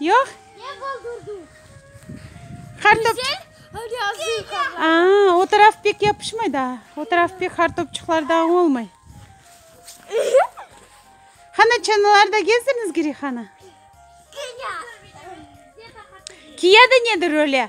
Yoq. Ne qaldırdı? Qartop. Güzel. Öyle azı qartop. Aa, o taraf pek yapışmay da. O taraf pek qartopçıqlarda olmay. Hana çanalarda gezdiriniz Girihana. Kıya. Kıya da nedir öyle?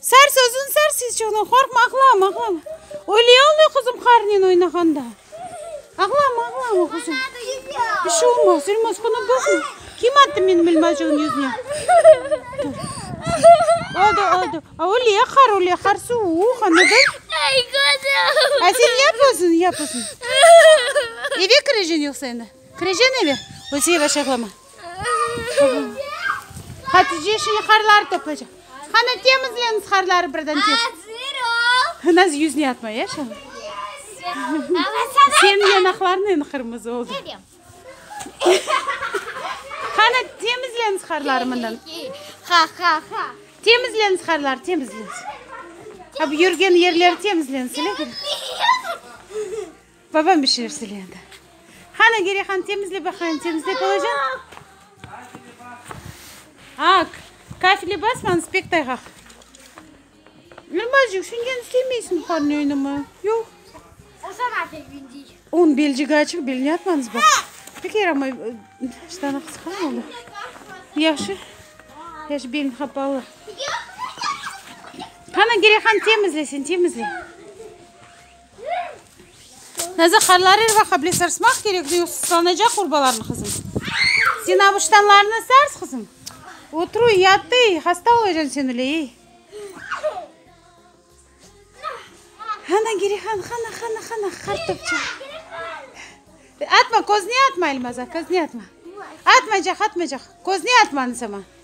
Sar sözün sar sisçığınan qorqma ağlama ağlama öyle ağlay qızım qarnen oynağanda ağlama ağlama qızım bir şey olmaz ölmez qunı bükme kim attı menim elmacığım yüzüne oldu oldu öyle qar öyle qar suvuq anladın a sen yap özün yap özün eve kireceğin yoqsa endi kireceğin eve öyle yavaş ağlama Hatice şimdi harları toplaycaq. Qani temizleniz harları birden tez. Azır ol. Naz yüzüne atma ya şa. Senin yanaqlarıñ endi qırmızı oldı. Qani temizleniz harları mından. Ha ha ha. Temizleniz harları temizleniz. Hep yürgen yerleri temizleniz. Babam bir şeyler söyleyendi. Qani, Geriye hanım, temizle baqayım, temizlep olacañ. Aq, kafile basmañız, pek tayğaq. Elmazcıq, şungen istemeysiñ buharnıñ öynimi? Yoq. O sana pek bendey. Onıñ belcigi açıq, belini atmañız baq. Pek yaramay, ştanı qısqa mı oldı? Yahşı, yahşı, belni qapalı. Qani, Geriye hanım, temizle sen, temizle. Nazar Harlarir ve Hable sarsmaq kerek, ne yoqsa sıtlanacaq urbalarnı qızım. Sen avuştanlarnı sars qızım. Oturuv yat ey, hasta olacan sen öyle ey. Hana Gerihan, hana, hana, hana, qartopça. Atma, közüne atma, Elmazar, közüne atma. Atmaycaq, atmaycaq, közüne atma anısama.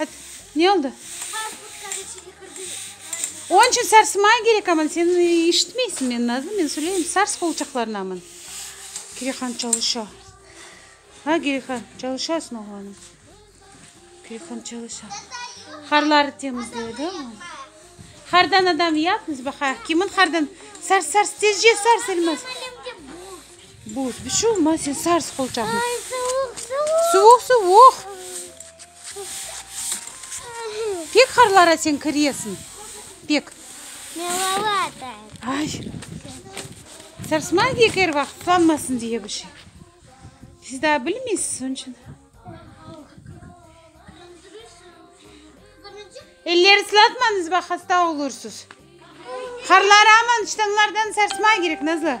At, ne oldı? Onıñ içün sarsmay kerek, aman, sen eşitmeysiñ meni, Nazlı, men söyleyim, sars qolçaqlarnı, aman. Kirehan çalışa. A, Kirehan, çalışasıñ, oğlanım? Kirehan çalışa. Harları temizledi, aman. Hardan adam yapmız, baqa, kimin hardan? Sars, sars, tezce sars, Elmaz. Buz, bir şey olmaz, sen sars qolçaqnı. Suvuq, suvuq. Pek harlara sen kiresiñ, pek. Ay. Sarsmay diye ki, er vaqıt qanmasın diye bir şey. Siz daa bilmeysiz, onıñ içün. Elleri sılatmañız, bax, hasta olursız. Harları aman ştanglardan sarsmay kerek, Nazlı.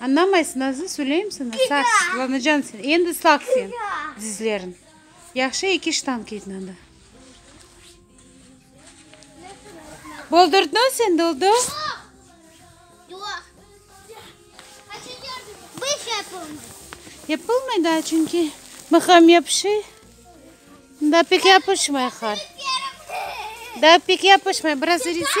Añnamaysıñ, azı söyleyim saña, saqs, lanacan sen, endi ıslaq sen dizleriñ. Yahşı eki ştanq kiydin anda. Boldurdnı sen doldu? Yapılmay daa, çünki mıham yapışı, daa pek yapışmay har. Daa pek yapışmay, biraz erise.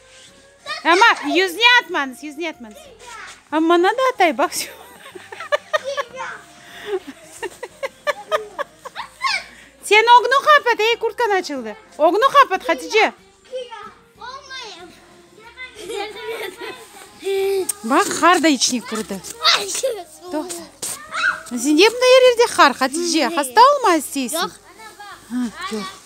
Amma yüzüne atmañız, yüzüne atmañız. A, maña da atay, baq. Sen ögni qapat, ey, kurtkan açıldı. Ögni qapat, Hatice. Bak, qar da içine kirdi. Toqta. Sende bunday yerlerde qar, Hatice. Hasta olma isteysin. Yoq. Yoq.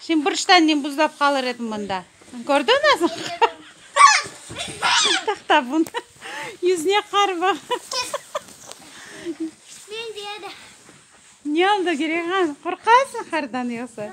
Şimdi bir ştannem buzlap qalır edim mında. Kördiñ azır? Tahta bun. Yüzüne qar ba. Men dedi. Ne oldı Girehan? Qorqasıñ qardan yoqsa?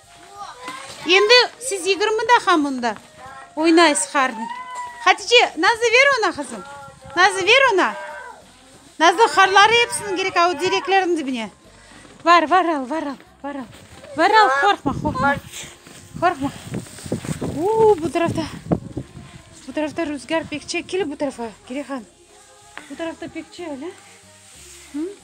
Endi siz yigirmi daha mında oynaysız harna. Hatice, Nazlı ver oña qızım. Nazlı ver oña. Nazlı harları hepsini gerek a o direklerniñ dibine. Var, var al, var al, var al. Var al, qorqma, qorqma. Qorqma. Uuu, bu tarafta, bu tarafta ruzgâr pek çek. Kel bu tarafa, Girehan. Bu tarafta pek çek, a?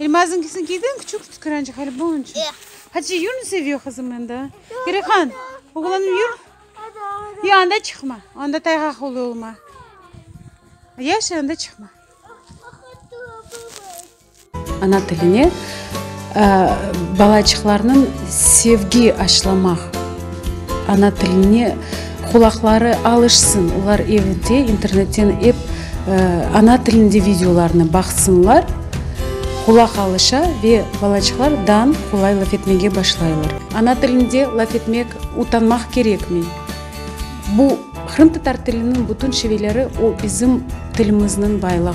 Elmazınkisinkiden küçük tükürençik hali bu onıñ içün. Hatice yürni seviyor qızım endi. Gerihan, oğlanım yür. Yoq, anda çıqma, anda tayğaq oluv olma. Yaşa, anda çıqma. Ana tiline balaçıqlarnıñ sevgi aşılamaq. Ana tiline qulaqları alışsın, olar evde internetten ep ana tilinde videolarnı baqsınlar, qulaq alışa ve balaçıqlar dan qolay laf etmege başlaylar. Ana tilinde laf etmek utanmaq kerekmi? Bu, qırımtatar tiliniñ bütün şiveleri, o bizim tilimizniñ baylığı.